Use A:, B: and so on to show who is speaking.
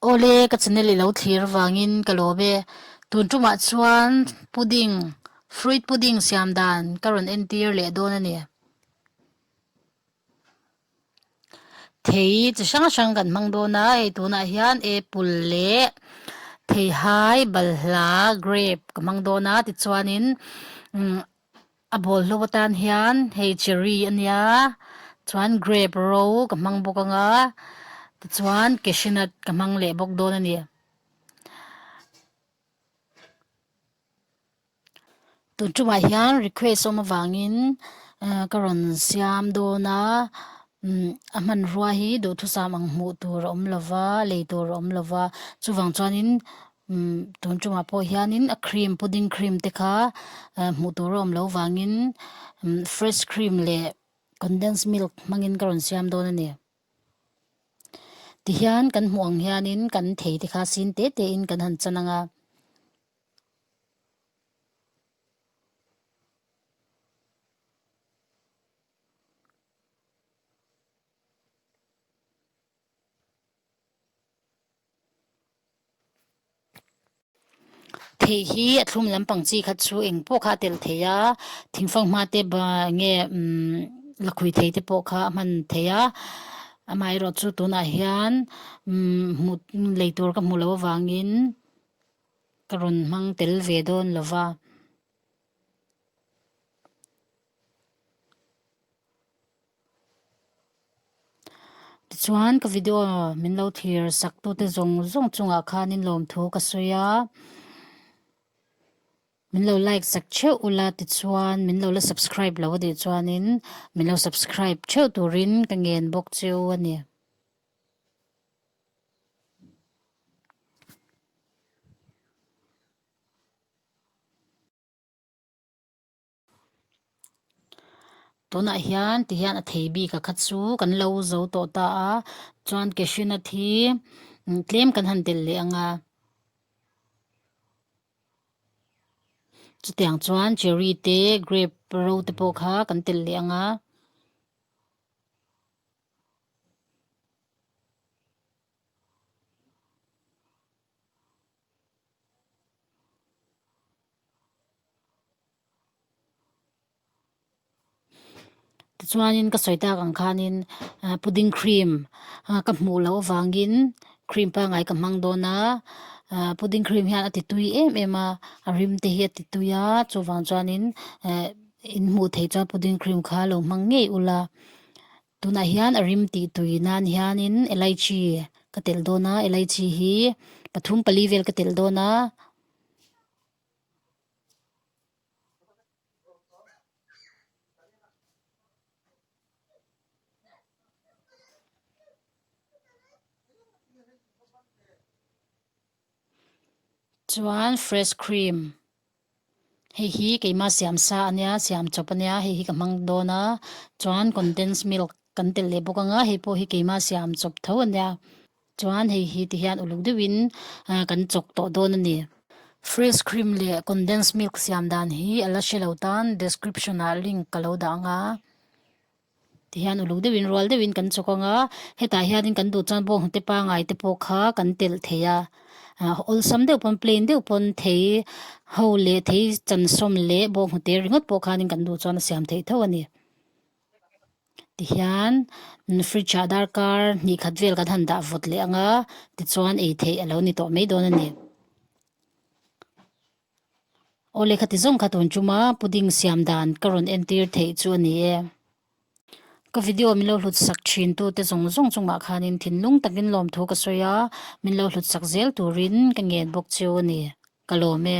A: Awle, ka channel i lo thlir vangin ka lawm e. Tun tumah chuan pudding, fruit pudding siam dan ka rawn entir leh dawn a ni. Thei chi hrang hrang kan hmang dawn a, hei tunah hian apple leh theihai, balhla, grape ka hmang dawn a. Tichuanin A bawlhhlawh atan hian hei cherry a nia chuan grape ro ka hmang bawk ang a tichuan cashew nut ka hmang leh bawk dawn a ni. Tun tumah hian request awm avangin ehh ka rawn siam dawn a umm a hmanrua hi duhthusam ang hmuh tur a awm lo va lei tur a awm lo va chuvang chuanin-- Tun chungah pawh hianin a cream pudding cream te kha hmuh tur a awm lo vangin fresh cream leh condensed milk hmangin ka rawn siam dawn a ni. Tihian kan hmuh ang hianin kan thei te kha sin teh teh in kan han chan ang a. Thei hi a thlum lampang chi khat chu eng pawh kha a tel thei a, thing fanghma te nge lakhuih thei te pawh kha a hman thei a, amaherawh chu tunah hian hmuh lei tur ka hmuh loh avangin ka rawn hmang tel ve dawn lo va. Tichuan ka video min lo thlir sak tu te zong zong chungah khan in lawm thu ka sawi a. Min lo like sak theuh ula tichuan min lo la subscribe lo a tih chuan in min lo subscribe theuh turin ka ngen bawk chu a ni. Tunah hian tihian a thei bik a kha chu kan lo zo tawh ta a, chuan cashewnut hi tlem kan han tel leh ang a, chutiang chuan cherry te grape ro te pawh kha kan tel leh ang a. Tichuanin ka sawi tak ang khanin ahh pudding cream ahh ka hmuh loh avangin cream pangngai ka hmang dawn a ahh pudding cream hian a ti tui em em a a rim te hi a ti tui a chuvang chuanin ehh in hmuh theih chuan pudding cream kha a lo hmang ngei ula. Tunah hian a rim tih tui nan hianin elaichi ka telh dawn a, elaichi hi pathum pali vel ka telh dawn a. Chuan fresh cream. Hei hi keima siam sa a nia, siam chawp a nia, hei hi ka hmang dawn a, chuan condensed milk kan tel leh bawk ang a, hei pawh hi keima siam chawp tho a nia, chuan hei hi ti hian uluk deuhin kan chawk tawh dawn a ni. Fresh cream leh condensed milk siam dan hi a la hre lo tan description-ah link ka lo dah ang a. Ti hian uluk deuhin, rual deuhin kan chawk ang a, hetah hianin kan duh chuan bawng hnute pangai te pawh kha kan telh thei a, awlsam deuh pawn, plain deuh pawn thei ho leh thei chansawm leh bawng hnute ringawt pawh khanin kan duh chuan a siam theih tho a ni. Ti hian fridge ah darkar hnih khat vel kan han dah vawt leh ang a, tichuan ei theih a lo ni tawh mai dawn a ni. Aw lehkha ti zawng kha tun tum a, pudding siam dan ka rawn entir theih chu a ni e. Ka video min lo hlutsak thintu te zawng zawng chungah khanin thinlung takin lawm thu ka sawi a, min lo hlutsak zel turin ka ngen bawk chu a ni. Ka lawm e.